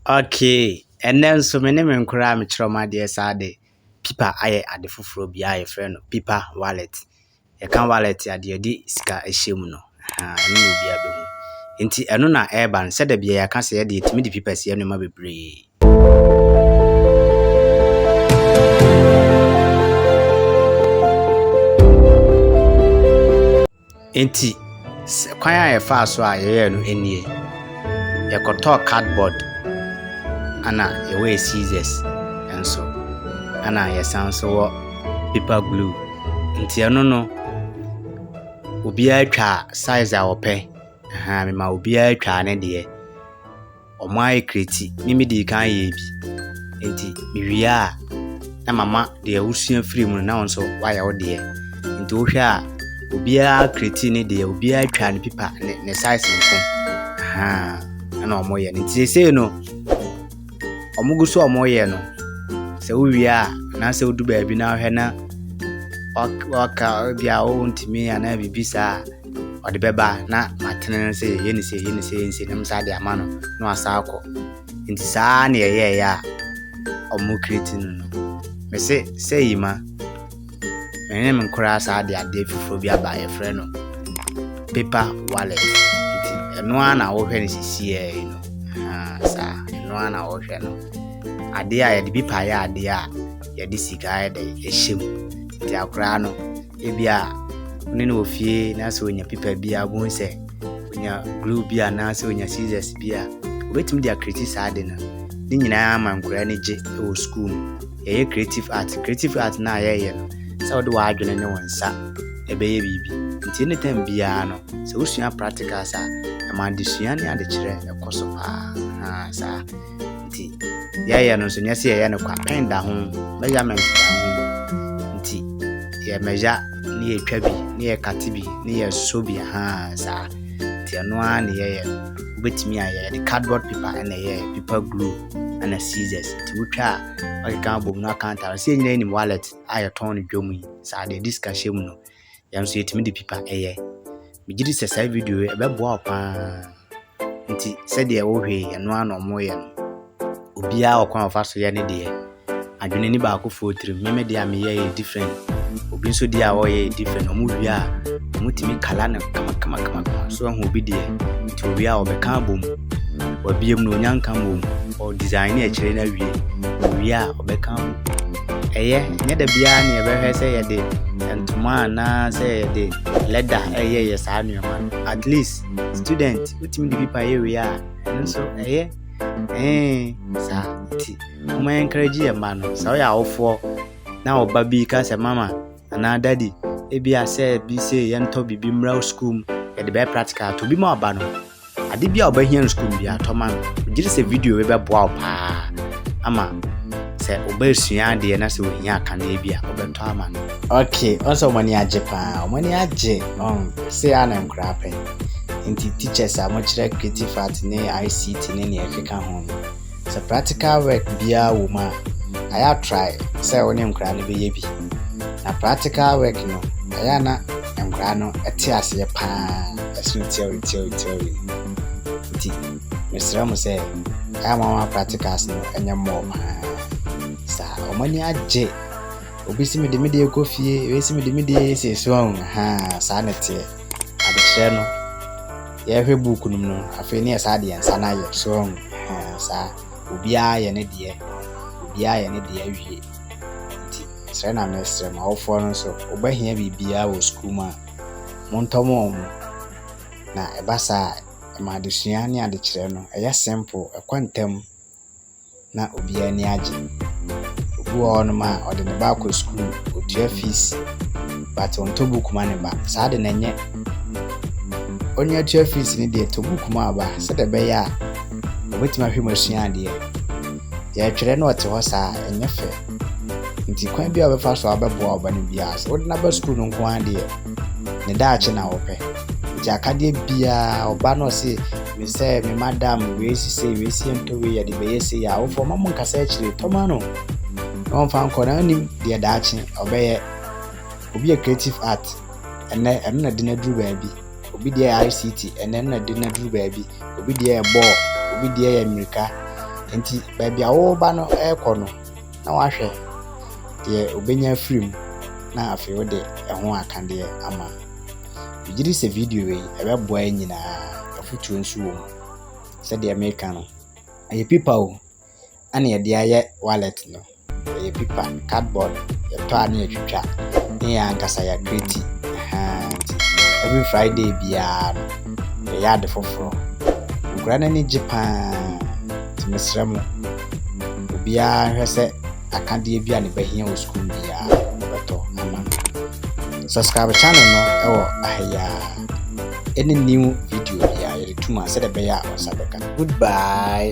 Okay, ɛnnɛ nso me ne me nkora a mekyerɛ wɔn adeɛ saa de pipa ayɛ ade foforɔ bi a yɛfrɛ no pipa wallet. Yɛka wallet a deɛ yɛde sika hyɛ mu no, ahaa, ɛno na obiara bɛhu. Nti ɛno na ɛreba no, sɛ da biara yɛaka sɛ yɛde yɛtumi de pipa si nneɛma bebree. Enti, sɛ kwan a yɛfaa so a yɛyɛɛ no nie, Yɛkɔtɔɔ cardboard ɛna yɛwɔ yɛ scissors nso ɛna yɛsan nso wɔ paper glue. Nti ɛno no obiara twaa size a ɔpɛ, ɛhaa mema obiara twaa ne deɛ. wɔayɛ kreti ne me dii kan yɛɛ bi. Enti mewie a, na mama deɛ wosua firi mu no na wo nso woayɛ wo deɛ. Nti wohwɛ a, obiara kreti ne deɛ, obiara twa ne pipa ne, ne size nko. Ahaa, ɛna wɔyɛ no. Nti seesei no, wɔgu so a wɔyɛ no. Sɛ wowie a, anaasɛ wodu baabi na wohwɛ na waka bia wontumi anaa biribi saa a, Ɔde bɛba na matene no sɛ yɛyɛ ne sei yɛ ne sei nsi na mesa de ama no na wasan akɔ nti saa na yɛyɛɛyɛ a ɔmo kireti no no mese sɛ yi ma mene me nkoraa saa de adeɛ foforɔ bi aba yɛfrɛ no paper wallet nti ɛno ara na wohwɛ no sisiɛ yi no saa ɛno ara na wohwɛ no adeɛ a yɛde bi paeɛ adeɛ a yɛde sika yɛde ɛhyɛ mu nti akoraa no Ebia wo ne no wɔ fie na sɛ onya pipa bi a wobɛhu sɛ onya glue bi anaasɛ onya scissors bi a obetumi de akreti saa ade no ne nyinaa ama nkwadaa no gye wɔ sukuu mu yɛyɛ creative art creative art no a yɛyɛ no sɛ wode w'adwene ne wo nsa ɛbɛyɛ biribi nti ne tam biara no sɛ wosua practicals a ɛma adesua ne adekyerɛ ɛkɔ so paa saa nti yɛyɛ no nso nyɛ sɛ yɛyɛ no kwa pɛn da ho measurement da ho nti yɛ measure ne yɛtwa bi ne yɛkate bi ne yɛsɔ bi ha saa nti ɛno ara ne yɛyɛ no wobɛtumi ayɛ yɛde cardboard paper ɛna ɛyɛ paper glue ɛna scissors nti wotwa a ɔkeka abom no akantara sɛ nyina nim wallet a yɛtɔn no dwom yi saa deɛ disika hyɛ mu no Yɛn nso yɛtumi de pipa yɛ. Megye di sɛ saa video yi ɛbɛboa wo paa. Nti sɛdeɛ wohwɛ yi ɛno ara na wɔyɛ no. Obiara ɔkwan a ɔfa so yɛ ne deɛ. Adwene ni baakofoɔ tirim. Me me deɛ a meyɛ yɛ different. Obi nso deɛ a ɔyɛ yɛ different. Wɔn wie a wɔtumi kala no kamakamakama. So ahu obi deɛ. Nti owie a ɔbɛka abom. Wabiem no onya nka mmom. Ɔdesign ne akyire no awie. Owie a ɔbɛka abom. Ɛyɛ, nyɛ da biara na yɛbɛhwɛ sɛ yɛde ntoma anaa sɛ yɛde leather ɛyɛ yɛ saa nneɛma no. At least student wotumi de bi pa yɛ wei a ɛno nso ɛyɛ ɛɛ saa ti. Wɔn encourage yɛ mma no sɛ ɔyɛ awofoɔ na ɔba bi ka sɛ mama anaa daddy ebi asɛ bi sɛ yɛntɔ biribi mmra sukuu mu yɛde bɛyɛ practical to bi ma ɔba no. Ade biara a wobɛhia no sukuu mu biara, tɔ ma no. Megye di sɛ video yi bɛboa wo paa ama sɛ wo ba resua adeɛ na sɛ ohia akaneɛ bi a, wobɛtɔ ama no. Okay, ɔn sɛ wɔn ani agye paa. Wɔn ani agye, ɔn, sei ara na nkwadaa pɛ. Nti teachers a wɔkyerɛ creative art ne ICT ne nea ɛkeka ho no, Sɛ practical work biara wɔ mu a, ayɛ a try sɛ wo ne nkwadaa no bɛyɛ bi. Na practical work no, ɛyɛ a na nkwadaa no te aseɛ paa ɛsene theory theory theory no. Nti mesrɛ mo sɛ ɛyɛ a mama practicals no ɛnyɛ mmɔɔ paa. Saa wɔn ani agye. Obi si me de me deɛ kɔ fie, ebi si me de me deɛ yɛ sɛ so ahu ha saa na ɛteɛ. adekyerɛ no yɛhwɛ book no mu no afei ne yɛ saa deɛ nsa no ayɛ strong saa obiara yɛ ne deɛ obiara yɛ ne deɛ awie nti srɛ na mesrɛ ma awofoɔ no nso wobɛhia biribiara wɔ sukuu mu a montɔ mo wɔn mo na ɛba saa ɛma adesua ne adekyerɛ no ɛyɛ simple ɛkɔ ntam na obiara ani agye. Obi wɔ hɔnom a, ɔde ne ba kɔ sukuu, otua fees, but ɔntɔ book ma ne ba. Saa de no ɛnyɛ. Onii a ɔtua fees no deɛ, tɔ book ma wo ba sɛdeɛ ɛbɛyɛ a ɔbɛtumi ahwɛ mu asua adeɛ. Deɛ ɛtwerɛ na ɔte hɔ saa a, ɛnyɛ fɛ. Nti kwan biara a wobɛfa so a wobɛboa wo ba no biara, sɛ wode no aba sukuu no nko ara deɛ, ne daakye na wopɛ. Nti akadeɛ biara, ɔba no ɔse Mesɛɛ me madam wei si sei wei si ɛntɔ wei yɛde bɛyɛ sei yɛ awofo ɔma mo nkasa akyire tɔma no na ɔmfa nkɔ na nim deɛ daakye ɔbɛyɛ obi yɛ creative art ɛnɛ ɛno na de no aduru baabi obi deɛ yɛ ICT ɛnɛ ɛno na de no aduru baabi obi deɛ yɛ bɔɔl obi deɛ yɛ mmirika nti baabi a wɔba no ɛrekɔ no na wahwɛ deɛ ɔbɛnya afiri mu na afei wode ɛho akadeɛ ama no Megye di sɛ video yi ɛbɛboa yɛn nyinaa. Afotuo nso wɔ mu. Sɛdeɛ meka no, ɛyɛ pipa o, ɛna yɛde ayɛ wallet no. Ɛyɛ pipa, cardboard, yɛtɔ a na yɛtwitwa ne yɛn ankasa yɛakreti. Nti every Friday biara no, yɛyɛ ade foforɔ. Nkura no ani gye paa. Nti mesrɛ mo, obiara hwɛ sɛ akadeɛ bi a ne bɛhia wɔ sukuu mu biara no bɛtɔ ama no. Subscribe channel no wɔ aha yi ara. Any new video biara yɛde tum a sɛdeɛ ɛbɛyɛ a wo nsa bɛka. Goodbye.